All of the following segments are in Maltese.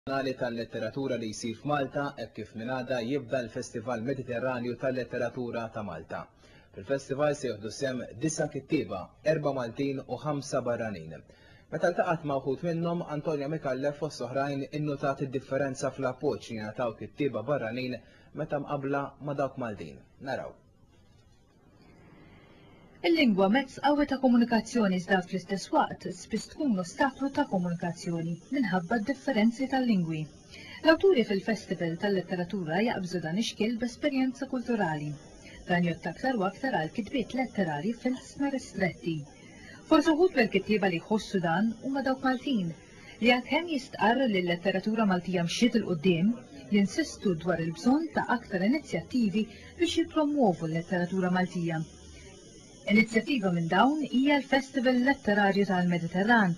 Annali tal-Letteratura li jsir f'Malta hekk kif minn għada jibda l-Festival Mediterranju tal-Letteratura ta' Malta. Fil-festival se jieħdu sehem disa' kittieba, erba' Maltin u ħamsa barranin. Meta ltaqgħet ma' wħud minnhom, Antonia Micallef fost oħrajn innutat id-differenza fl-appoġġ li jingħataw kittieba barranin meta mqabbla ma' dawk Maltin. Naraw. Il-lingwa mezz qawwi ta' komunikazzjoni iżda fl-istess waqt spiss tkun ostaklu ta' komunikazzjoni minħabba d-differenzi tal-lingwi. L-awturi fil-Festival tal-Letteratura jaqbżu dan ix-xkiel b'esperjenza kulturali. Dan jgħodd aktar u aktar għal kitbiet letterarji f'ilsna ristretti. Forsi wħud mill-kittieba li jħossu dan huma dawk Maltin, li għalkemm jistqarr li l-letteratura Maltija mxiet 'il quddiem, jinsistu dwar il-bżonn ta' aktar inizjattivi biex jippromwovu l-letteratura Maltija. Inizjattiva minn dawn hija l-Festival Letterarju tal-Mediterran,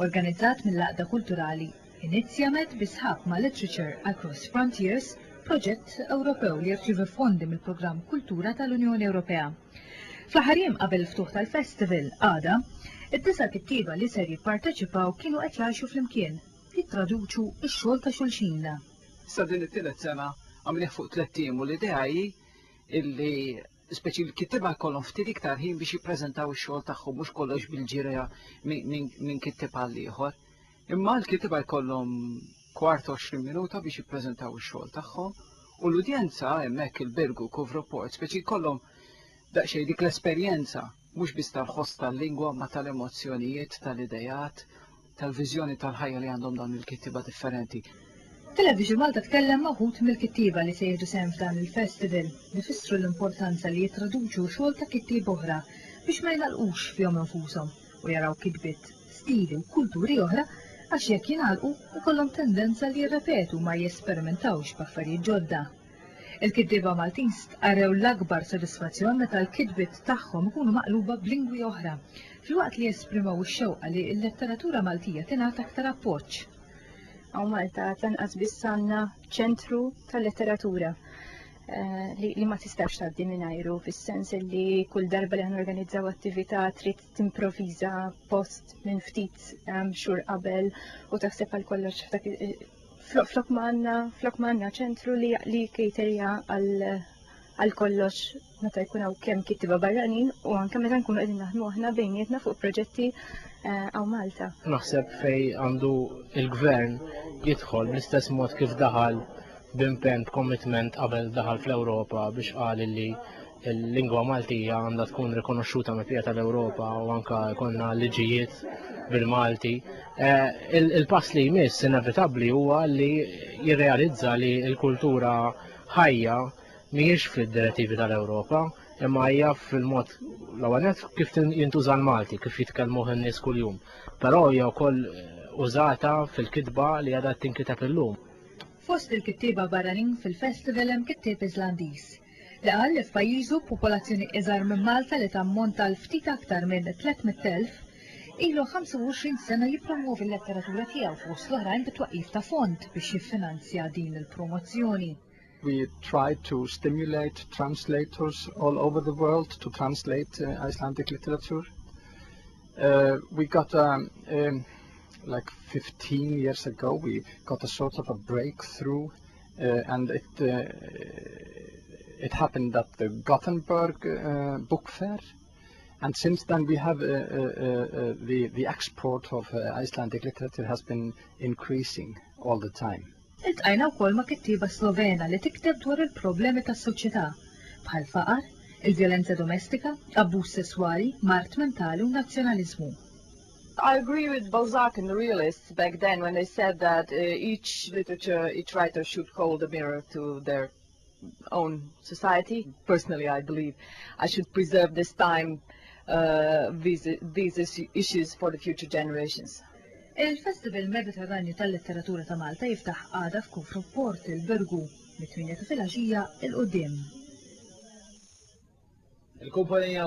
organizzat mill-Għaqda Kulturali Inizjamed bi sħab ma' Literature Across Frontiers, proġett Ewropew li jirċievi fondi mill-Programm Kultura tal-Unjoni Ewropea. Fl-aħħar jiem qabel il-ftuħ tal-festival, għada, id-disa' kittieba li ser jipparteċipaw kienu qed jgħixu flimkien, jittraduċu x-xogħol ta' xulxin. Issa din it-tielet sena għamilnieh fuq tlett ijiem u l-idea hi li speċi l-kittieba jkollhom ftit iktar ħin biex jippreżentaw ix-xogħol tagħhom mhux kollox bil-ġirja minn kittieb għall-ieħor. Imma l-kittieba jkollhom kwart u għoxrin minuta biex jippreżentaw ix-xogħol tagħhom u l-udjenza hemmhekk il-Birgu Kovroport speċi jkollhom daqsxejn dik l-esperjenza mhux biss tal-ħoss tal-lingwa ma tal-emozzjonijiet, tal-ideat, tal-viżjoni tal-ħajja li għandhom dawn il-kittieba differenti. Television Malta tkellem ma' wħud mill-kittieba li se jieħdu sehem f'dan il-festival li fissru l-importanza li jittraduċu xogħol ta' kittieb oħra biex ma jingħalqux fihom infushom u jaraw kitbiet stili u kulturi oħra għax jekk jingħalqu jkollhom tendenza li jirrepetu u ma jesperimentawx b'affarijiet ġodda. Il-kittieba Maltin stqarrew l-akbar sodisfazzjon meta l-kitbiet tagħhom ikunu maqluba b'lingwi oħra, filwaqt li esprimew ix-xewqa li l-letteratura Maltija tingħata aktar appoġġ. Hawn Malta għad lanqas biss għandna ċentru tal-letteratura li ma tistax tgħaddi mingħajru fis-sens li kull darba li ħanorganizzaw attività trid timproviża post minn ftit ehm, xhur qabel u taħseb għal kollox f'dak flok manna, flok manna ċentru li li kriterja għal kollox meta jkun hawn kemm kittiba barranin u anke meta nkunu qegħdin naħdmu aħna bejnietna fuq proġetti eh, għaw Malta. Naħseb fej għandu il-gvern jidħol bl-istess mod kif daħal b'impenn commitment qabel daħal fl-Ewropa biex qal li Il-lingwa Maltija għandha tkun rikonoxxuta mill-bqija tal-Ewropa u anke jkollna liġijiet bil-Malti. Eh, il-pass li jmiss inevitabbli huwa li jirrealizza li l-kultura ħajja mhijiex fid-direttivi tal-Ewropa, imma hija fil-mod l-ewwel kif jintuża l-Malti, kif jitkellmuh in-nies kuljum. Però hija wkoll eh, użata fil-kitba li għadha tinkiteb illum. Fost il-kittieba barranin fil-festival hemm kittieb Iżlandiż. li qal li f'pajjiżu b'popolazzjoni iżgħar minn Malta li tammonta għal ftit aktar minn 300,000, ilu 25 sena jippromwovi l-letteratura tiegħu fost l-oħrajn bit-twaqqif ta' fond biex jiffinanzja din il-promozzjoni. We tried to stimulate translators all over the world to translate Icelandic literature. Uh, we got a, um, like 15 years ago, we got a sort of a breakthrough Uh, and it, uh, it happened at the Gothenburg uh, Book Fair. And since then we have uh, uh, uh, the, the export of uh, Icelandic literature has been increasing all the time. Iltqajna wkoll ma' kittieba Slovena li tikteb dwar il-problemi tas-soċjetà bħal faqar, il-vjolenza domestika, abbuż sesswali, mart mentali u nazzjonaliżmu. I agree with Balzac and the realists back then when they said that uh, each literature, each writer should hold a mirror to their own society. Personally, I believe I should preserve this time, uh, these, these issues for the future generations. Il-Festival Mediterranju tal-Letteratura ta' Malta jiftaħ għada f'Kufru Port il-Birgu mit-8 ta' filgħaxija il-qudiem. Il-kumpanija